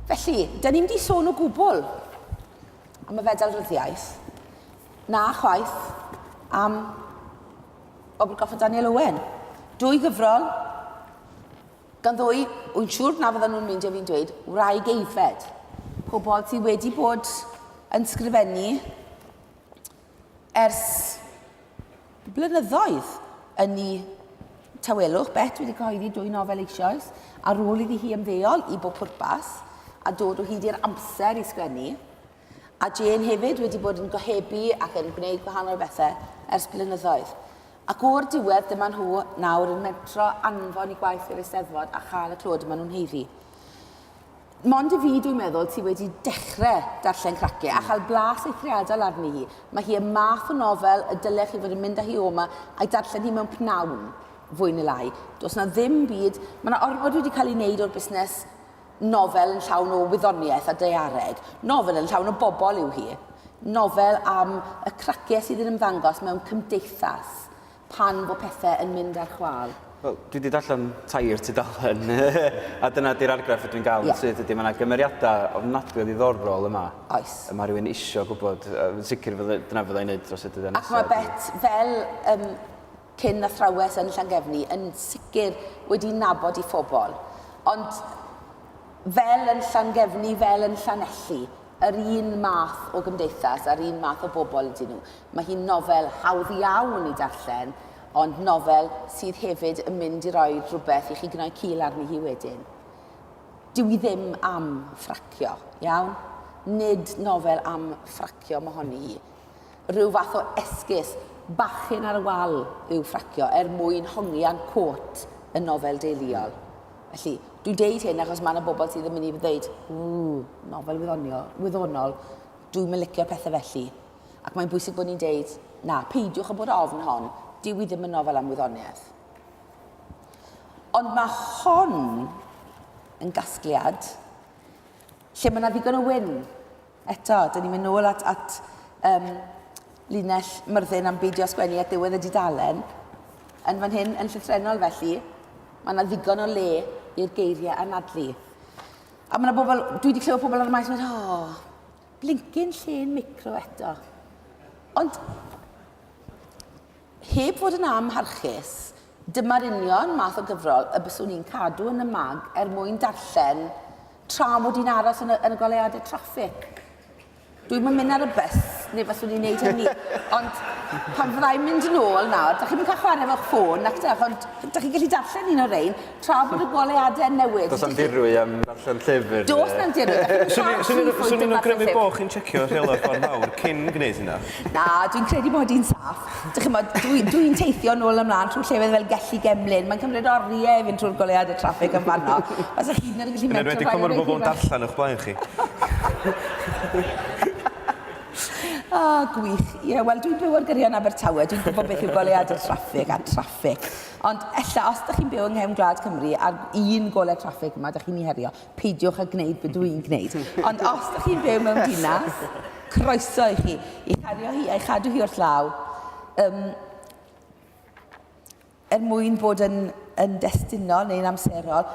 Felly, dyn ni'n di sôn o gwbl am y fedal ryddiaeth. Na chwaith am Obl Goffa Daniel Owen. Dwy gyfrol, gan ddwy, wy'n siŵr na fydden nhw'n mynd i fi'n dweud, wraig eifed. Pobl sydd wedi bod yn sgrifennu Ers blynyddoedd yn ei tawelwch, Bet wedi cyhoeddi dwy nofel eisoes ar ôl iddi hi ymddeol i bob pwrpas a dod o hyd i'r amser i sgwennu, a Jane hefyd wedi bod yn gohebu ac yn gwneud gwahanol bethau ers blynyddoedd. Ac o'r diwedd dyma nhw nawr yn mentro anfon i gwaith i'r Eisteddfod a chael y clod y maen nhw'n haeddu. Mond i fi, dwi'n meddwl, ti wedi dechrau darllen Cracie a chael blas eithriadol arni hi. Mae hi y math o nofel y dylech chi fod yn mynd â hi oma a'i darllen hi mewn pnawn, fwy neu lai. Does yna ddim byd, mae yna ormod wedi cael ei wneud o'r busnes nofel yn llawn o wyddoniaeth a daeareg. Nofel yn llawn o bobl yw hi. Nofel am y cracie sydd yn ymddangos mewn cymdeithas pan fo pethe yn mynd ar chwal? Wel, dwi 'di darllen tair tudalen, a dyna 'di'r argraff ydw i'n gael yn syth ydy, mae yna gymeriadau ofnadwy o ddiddorol yma. Oes. Y mae rhywun isio gwybod, yn sicr fydde, dyna fydda i'n neud dros y dyddiau nesaf. Ac mae Bet fel um, cyn athrawes yn Llangefni yn sicr wedi nabod i phobl. Ond fel yn Llangefni, fel yn Llanelli, yr un math o gymdeithas a'r un math o bobl ydyn nhw. Mae hi'n nofel hawdd iawn i darllen, ond nofel sydd hefyd yn mynd i roi rhywbeth i chi gnoi cil arni hi wedyn. Dyw hi ddim am ffracio, iawn? Nid nofel am ffracio mohoni hi. Rhyw fath o esgus bachyn ar y wal yw ffracio er mwyn hongian côt yn nofel deuluol. Felly, dwi'n deud hyn achos mae yna bobl sydd yn mynd i ddweud, ww, nofel wyddonio, wyddonol, dwi'n mylicio pethau felly. Ac mae'n bwysig bod ni'n deud, na, peidiwch â bod â ofn hon, dyw hi ddim yn nofel am wyddoniaeth. Ond mae hon yn gasgliad lle mae yna ddigon o wyn. Eto, dyn ni'n mynd nôl at, at um, linell myrddin am beidio sgwennu at ddiwedd y dudalen. Yn fan hyn, yn llythrenol felly, mae yna ddigon o le i'r geiriau anadlu. A mae yna bobl, dwi wedi clywed pobl ar y maes yn mynd, oh, Blincin llên micro eto. Ond, heb fod yn amharchus, dyma'r union math o gyfrol y byswn i'n cadw yn y mag er mwyn darllen tra mod i'n aros yn y, yn y goleuadau traffig. Dwi'm yn mynd ar y bus, neu fyswn i'n neud hynny. Ond pan fyddai'n mynd yn ôl nawr, da chi'n mynd cael chwarae efo'ch ffôn, nac dach, ond da chi'n gallu darllen un o'r rein, tra bod y goleuadau'n newid. Does na'm dirwy am ddarllen llyfr. Does na'm dirwy. Swn i'n awgrymu bod chi'n tsecio rheolau'r ffordd mawr cyn gwneud hynna. Na, dwi'n credu bod hi'n saff. Dych chi'n bod, dwi'n dwi teithio nôl ymlaen trwy llefydd fel Gelli Gemlyn. Mae'n cymryd oriau i fynd trwy'r goleuad y traffig yn fanno. Os ych chi'n gallu metro... Yn enwedig pan mae'r bobl yn darllen o'ch blaen chi. O, oh, gwych. Ie, yeah, wel, dwi'n byw ar gyrion Abertawe. Dwi'n gwybod beth yw goleuad y traffig a traffig. Ond ella, os ydych chi'n byw yng nghefn gwlad Cymru a'r un golau traffig yma, ydych chi'n ei herio, peidiwch â gwneud be dw i'n gwneud. Ond os ydych chi'n byw mewn dinas, croeso i chi i herio hi a'i chadw hi wrth law, um, er mwyn bod yn, yn destunol neu'n amserol,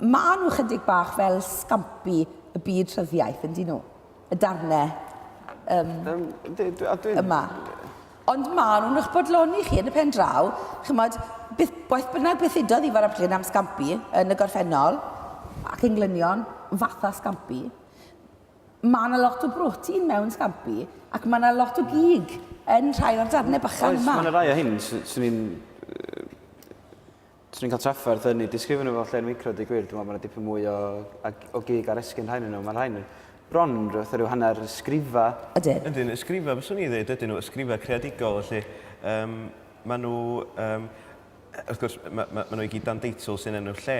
maen nhw chydig bach fel scampi y byd rhyddiaeth, yn dyn nhw? Y darnau um, um, yma. Ond maen nhw'n eich bodloni chi yn y pen draw, chymod, beth, beth bynnag beth udodd Ifor a Bryn am Scampi yn y gorffennol, ac englynion fatha Scampi, mae yna lot o brotein mewn Scampi, ac mae yna lot o gig yn rhai o'r darnau bychan yma. Oes, mae yna rai o hyn, swn i'n Os dwi'n cael trafferth yn eu disgrifio nhw fel llên micro, dweud gwir, dwi'n meddwl bod yna dipyn mwy o, o gig ar esgyn rhain yn nhw. Mae rhain bron yn rhywbeth rhyw hanner ysgrifa. Ydyn. Ydyn, ysgrifa, fyswn i ddweud, ydyn nhw, ysgrifa creadigol, felly. Um, mae nhw, um, wrth gwrs, mae, mae, mae nhw i gyd dan deitl sy'n enw lle,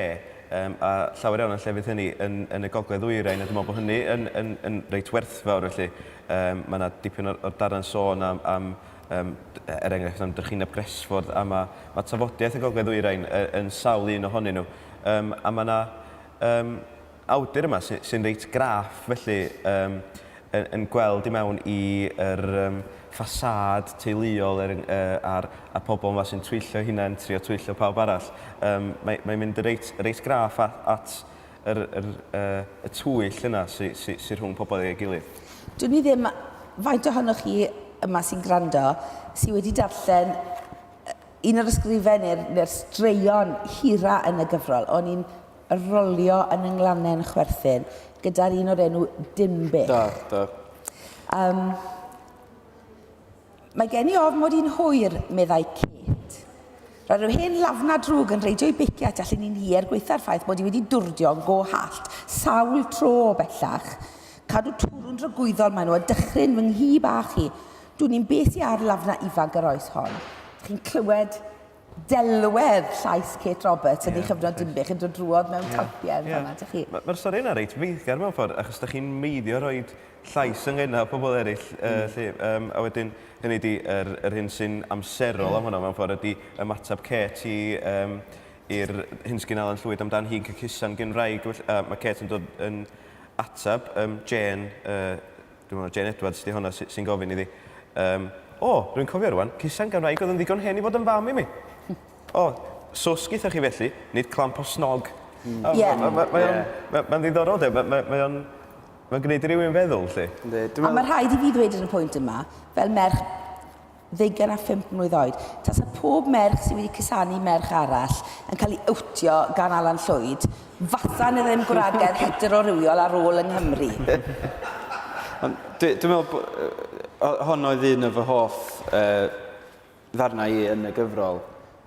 um, a llawer iawn o'n llefydd hynny yn, yn y gogledd ddwyrain, a dwi'n meddwl bod hynny yn, yn, yn reit werthfawr, felly. Um, mae yna dipyn o'r, or darren sôn am, am Yym, er enghraifft, am drychineb Gresford, a mae, mae tafodiaith y Gogledd Ddwyrain yn sawl un ohonyn nhw. Yym, a mae yna yym, awdur yma sy, sy'n reit graff, felly, yym, yn, yn gweld i mewn i yr um, ffasâd teuluol er, uh, a'r, a'r pobl yma sy'n twyllo hunain, trio twyllo pawb arall. Um, mae, mae'n mynd reit, reit graff at, at yr yr yy y twyll yna sy sy sy rhwng pobl ag ei gilydd. Dwn i ddim faint ohonoch chi yma sy'n gwrando sy wedi darllen un o'r ysgrifen neu'r neu'r straeon hira yn y gyfrol. O'n i'n rolio yn y nglannen chwerthin gyda'r un o'r enw Dinbych. Do, do. Yym. Mae gen i ofn mod i'n hwyr, meddai Kate. Roedd rhyw hen lafna drwg yn reidio'i beicio at allan i'n hi er gwaetha'r ffaith mod i wedi dwrdio go hallt sawl tro o bellach. Cadw twrw'n dragwyddol maen nhw a dychryn fy nghi bach i. Dwn i'm beth sy ar lafna ifanc yr oes hon. Chi'n clywed delwedd llais Kate Roberts yn ei chyfnod Dinbych yn dod drwodd mewn talpiau yn fan'na, dych chi. Mae'r stori yna reit feiddgar mewn ffordd, achos dych chi'n meiddio rhoi llais yn nghenau pobl eraill, lly, a wedyn, hynny ydi, yr, yr hyn sy'n amserol am hwnna, mewn ffordd, ydi ymateb Kate i, um, i'r hyn sgyn Alan Llwyd amdan hi'n cycusa'n gyn-wraig, a mae Kate yn dod yn ateb, um, Jane, uh, Dwi'n meddwl Jane Edwards 'di honna sy- sy'n gofyn iddi. Um, o, rwy'n cofio rwan, Cusen gan wraig oedd yn ddigon hen i fod yn fam i mi. o, swsg gyda chi felly, nid clamp o snog. Mm. Oh, yeah. Mae'n ma, ma, yeah. ma, ma ddiddorol, de. Mae'n ma, ma, ma gwneud i rywun feddwl, lle. A mae rhaid i fi ddweud yn y pwynt yma, fel merch ddeugain a phump mlwydd oed, tasa pob merch sydd wedi cusanu merch arall yn cael ei owtio gan Alan Llwyd, fasa yna ddim gwragedd hetero-rywiol ar ôl yng Nghymru. Ond dwi, dwi'n meddwl bod... hon oedd un o fy hoff yy, ddarnau i yn y gyfrol.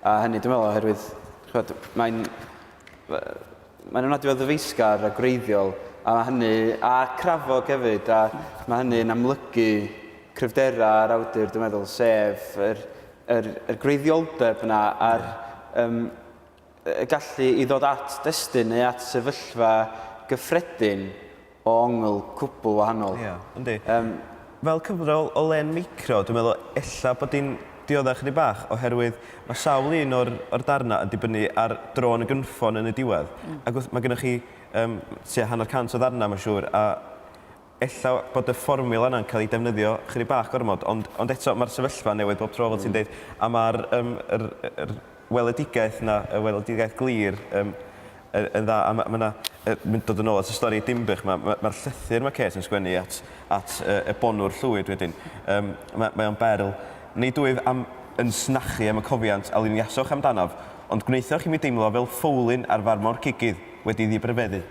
A hynny, dwi'n meddwl, oherwydd, chwed, mae'n... Mae'n ofnadwy o ddyfeisgar a gwreiddiol, a mae hynny, a crafog hefyd, a mae hynny'n amlygu cryfderau yr awdur, dwi'n meddwl, sef yr, yr, yr gwreiddioldeb yna a'r um, gallu i ddod at destun neu at sefyllfa gyffredin o ongl cwpl wahanol. Ia, yndi. Yym. Fel cyfrol o len micro, dwi'n meddwl ella bod hi'n diodda' ychydig bach oherwydd ma' sawl un o'r o'r darna' yn dibynnu ar dro yn y gynffon yn y diwedd. Mm. Ac wrth... Ma' gynnoch chi yym tua hanner cant o ddarna' ma'n siŵr a ella bod y fformiwla 'na'n ca'l 'i defnyddio chydig bach gormod ond ond eto ma'r sefyllfa'n newid bob tro fel ti'n deud a ma'r yym yr yy yr weledigaeth 'na, y weledigaeth glir yym y- yn dda a ma' ma' 'na y- mynd dod yn ôl at y stori Dinbych 'ma ma' ma'r llythyr ma' Kate yn sgwennu at at y- Ebonwr Llwyd wedyn yym ma' mae o'n berl. Nid wyf am yn snachu am y cofiant a luniasoch amdanof, ond gwnaethoch i mi deimlo fel ffowlyn ar farmor cigydd wedi ddibrifeddu.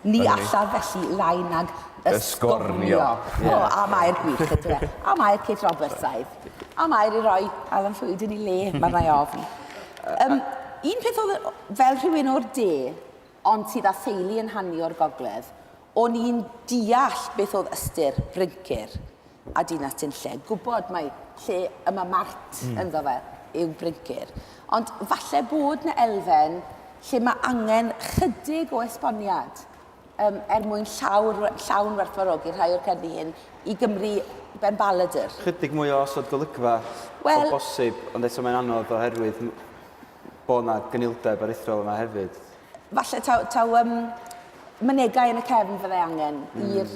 Ni allaf felly lai nag ysgornio. O, am air gwych ydw e. Am air Kate Roberts aidd. Am air i roi Alan Llwyd yn ei le, mae'r nai ofn. Um, un peth oedd fel rhywun o'r de, ond sydd â theulu yn hannu o'r gogledd, o'n i'n deall beth oedd ystyr bryncir. a dinas sy'n lle gwybod mai lle y mae Mart mm. ynddo fe yw Bryncir. Ond falle bod na elfen lle mae angen chydig o esboniad um, er mwyn llawr, llawn werthfarogi rhai o'r cerddi hyn i Gymru ben baladr. Chydig mwy o osod golygfa well, o bosib, ond eto mae'n anodd oherwydd bod yna gynildeb aruthrol yma hefyd. Falle taw, taw um, mynegau yn y cefn fydde angen mm. i'r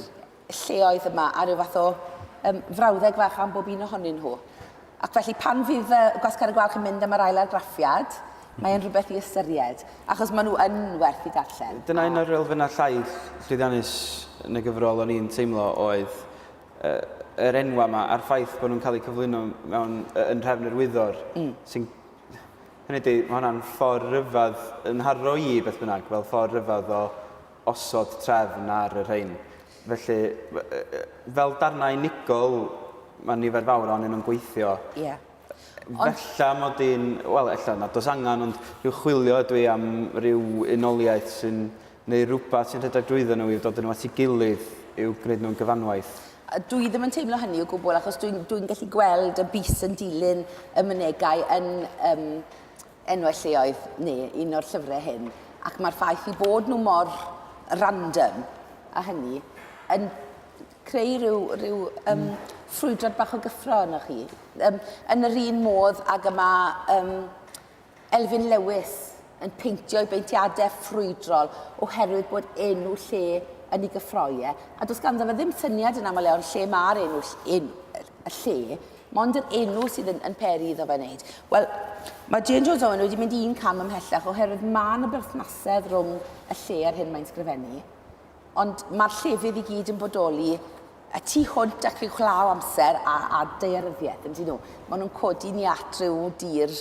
lleoedd yma a rhyw fath o um, frawddeg fach am bob un ohonyn nhw. Ac felly pan fydd uh, Gwasgar y Gwalch yn mynd am yr ail argraffiad, mae e'n rhywbeth i ystyried, achos maen nhw yn werth i darllen. Dyna un o'r elfennau llai llwyddiannus yn y gyfrol o'n i'n teimlo oedd uh, yr enwau yma a'r ffaith bod nhw'n cael eu cyflwyno mewn, uh, yn rhefn yr wyddor, mm. sy'n hynny di, mae hwnna'n ffordd rhyfedd yn harro i beth bynnag, fel ffordd rhyfedd o osod trefn ar y rhain. Felly, fel darnau unigol, mae nifer fawr o'n nhw'n gweithio. Ie. Ond... Fella mod i'n... Wel, ella nad oes angen, ond rhyw chwilio ydw i am rhyw unoliaeth sy'n neu rhywbeth sy'n rhedeg drwyddo nhw i'w dod nhw at ei gilydd i'w gwneud nhw'n gyfanwaith. Dwi ddim yn teimlo hynny o gwbl, achos dwi'n dwi gallu gweld y bus yn dilyn y mynegau yn um, enwau lleoedd neu un o'r llyfrau hyn, ac mae'r ffaith i bod nhw mor random a hynny yn creu rhyw, rhyw um, mm. ffrwydrad bach o gyffro yno chi. Um, yn yr un modd ag yma um, Elfyn Lewis yn peintio i beintiadau ffrwydrol oherwydd bod enw lle yn ei gyffroiau. A does ganddo fe ddim syniad yn aml iawn lle mae'r enw, enw y lle, Mond yr enw sydd yn, yn peri iddo fe wneud. Wel, mae Jane Jones Owen wedi mynd un cam ymhellach oherwydd mae yna berthnasedd rhwng y lle a'r hyn mae'n sgrifennu. Ond mae'r llefydd i gyd yn bodoli y tu hwnt ac i'w chlaw amser a, a daearyddiaeth, yn dyn nhw. Maen nhw'n codi ni at rhyw dir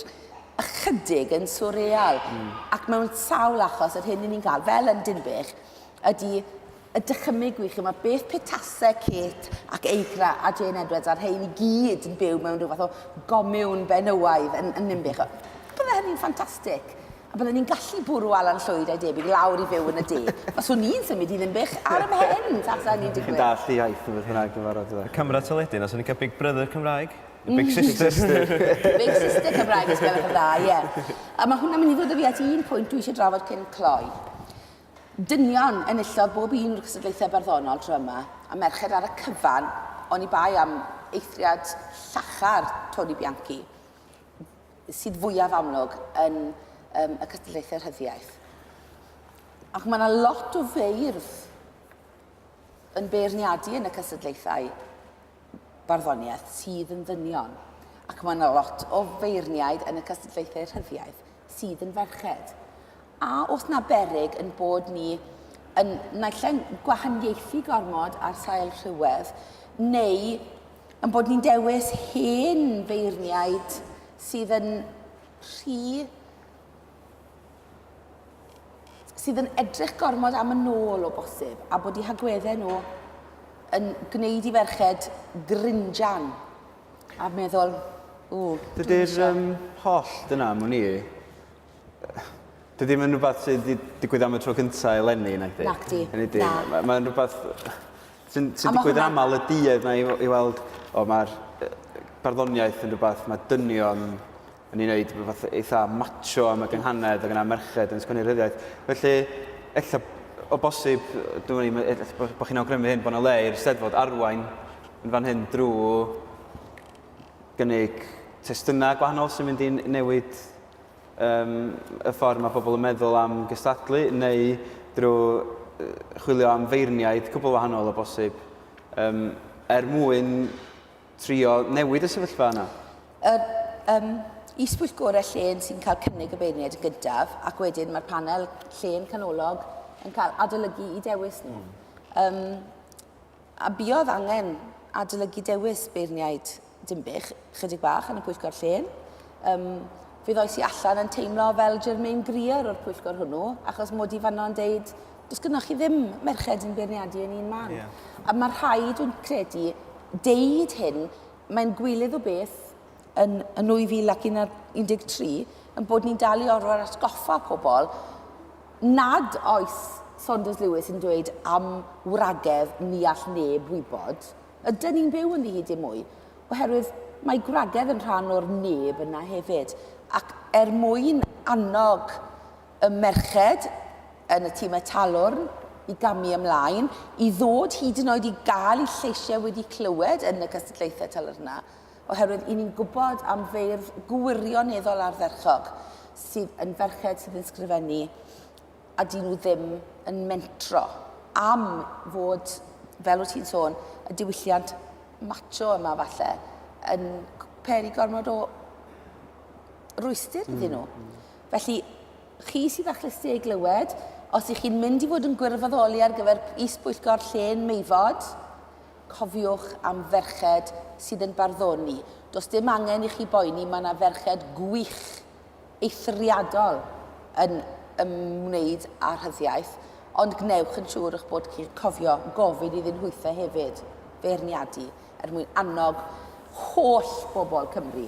ychydig yn swreal. Mm. Ac mewn sawl achos, yr hyn ni'n ni'n cael, fel yn Dinbych, ydy a dychymyg wi ch'mod beth petase Kate ac Eigra a Jane Edwards a'r rhein i gyd yn byw mewn rhyw fath o gomiwn benywaidd yn, yn Ninbych. Bydde hynny'n ffantastig. A bydden ni'n gallu bwrw Alan Llwyd a'i debyg lawr i fyw yn y du. Os wn i'n symud i Ninbych ar ymhen tasa hynny'n digwydd. Chi'n dallt y iaith neu beth bynnag dwi'n barod iddo. Y camera teledu 'na, 'swn i'n cael big brother Cymraeg. Neu big sister. Big sister. Big sister Cymraeg os gwelwch yn dda, ie. A ma' hwnna'n mynd i ddod â fi at un pwynt dwi eisiau drafod cyn cloi. Dynion enillodd bob un o'r cystadlaethau barddonol tro yma, a merched ar y cyfan, oni bai am eithriad llachar Toni Bianchi, sydd fwyaf amlwg yn um, y cystadlaethau rhyddiaeth. Ac mae yna lot o feirdd yn beirniadu yn y cystadlaethau barddoniaeth sydd yn ddynion. Ac mae yna lot o feirniaid yn y cystadlaethau rhyddiaeth sydd yn ferched. A os na berig yn bod ni yn naill ai'n gwahaniaethu gormod ar sail rhywedd, neu yn bod ni'n dewis hen feirniaid sydd yn rhy sydd yn edrych gormod am y nôl o bosib, a bod i hagweddau nhw yn gwneud i ferched grinjan. A meddwl, ww, dwi'n Dydy'r eisiau. um, holl dyna am wn i. Dydy ddim yn rhywbeth sydd wedi digwydd am y tro cyntaf eleni, nag di? Nag di, na. Mae'n ma rhywbeth sy'n sy digwydd hwnna... aml y duedd na i, i weld, o mae'r barddoniaeth yn rhywbeth, mae dynion o'n i'n neud rhywbeth eitha macho am y gynghanedd, ac yna merched yn sgwennu rhyddiaith. Felly, ella o bosib, dwi'n i'n ella bod chi'n awgrymu hyn, bod yna le i'r steddfod arwain yn fan hyn drwy gynnig testunau gwahanol sy'n mynd i'n newid um, y ffordd mae pobl yn meddwl am gystadlu, neu drwy chwilio am feirniaid cwbl wahanol o bosib, um, er mwyn trio newid y sefyllfa yna? Yr um, is-bwyllgorau llên sy'n cael cynnig y beirniaid yn gyntaf, ac wedyn mae'r panel llên canolog yn cael adolygu i dewis nhw. Mm. Um, a buodd angen adolygu dewis beirniaid Dimbych chydig bach yn y pwyllgor llên. Um, fe ddoes i allan yn teimlo fel Germaine Greer o'r pwyllgor hwnnw, achos mod i fanno yn deud Does gynnwch chi ddim merched yn beirniadu yn un man. Yeah. A mae rhaid, dwi'n credu, deud hyn, mae'n gwilydd o beth yn, yn 2013 yn bod ni'n dal i orfod atgoffa pobl nad oes Saunders Lewis yn dweud am wragedd ni all neb wybod, ydyn ni'n byw yn hyd i mwy, oherwydd mae gwragedd yn rhan o'r neb yna hefyd. Ac er mwyn annog y merched yn y timau talwrn i gamu ymlaen, i ddod hyd yn oed i gael eu lleisiau wedi clywed yn y cystadlaethau talyrnau, oherwydd i ni'n gwybod am feirdd gwirioneddol ardderchog sydd yn ferched sydd yn sgrifennu a dyn nhw ddim yn mentro am fod, fel wyt ti'n sôn, y diwylliant macho yma falle yn peri gormod o rwystir iddyn nhw. Mm, mm. Felly, chi sydd â chlysu ei glywed, os ych chi'n mynd i fod yn gwirfoddoli ar gyfer is-bwyllgor Llên Meifod, cofiwch am ferched sydd yn barddoni. Does dim angen i chi boeni, mae yna ferched gwych, eithriadol yn ymwneud â rhyddiaith, ond gwnewch yn siŵr eich bod chi'n cofio gofyn iddyn nhwythe hefyd, feirniadu, er mwyn annog holl bobl Cymru.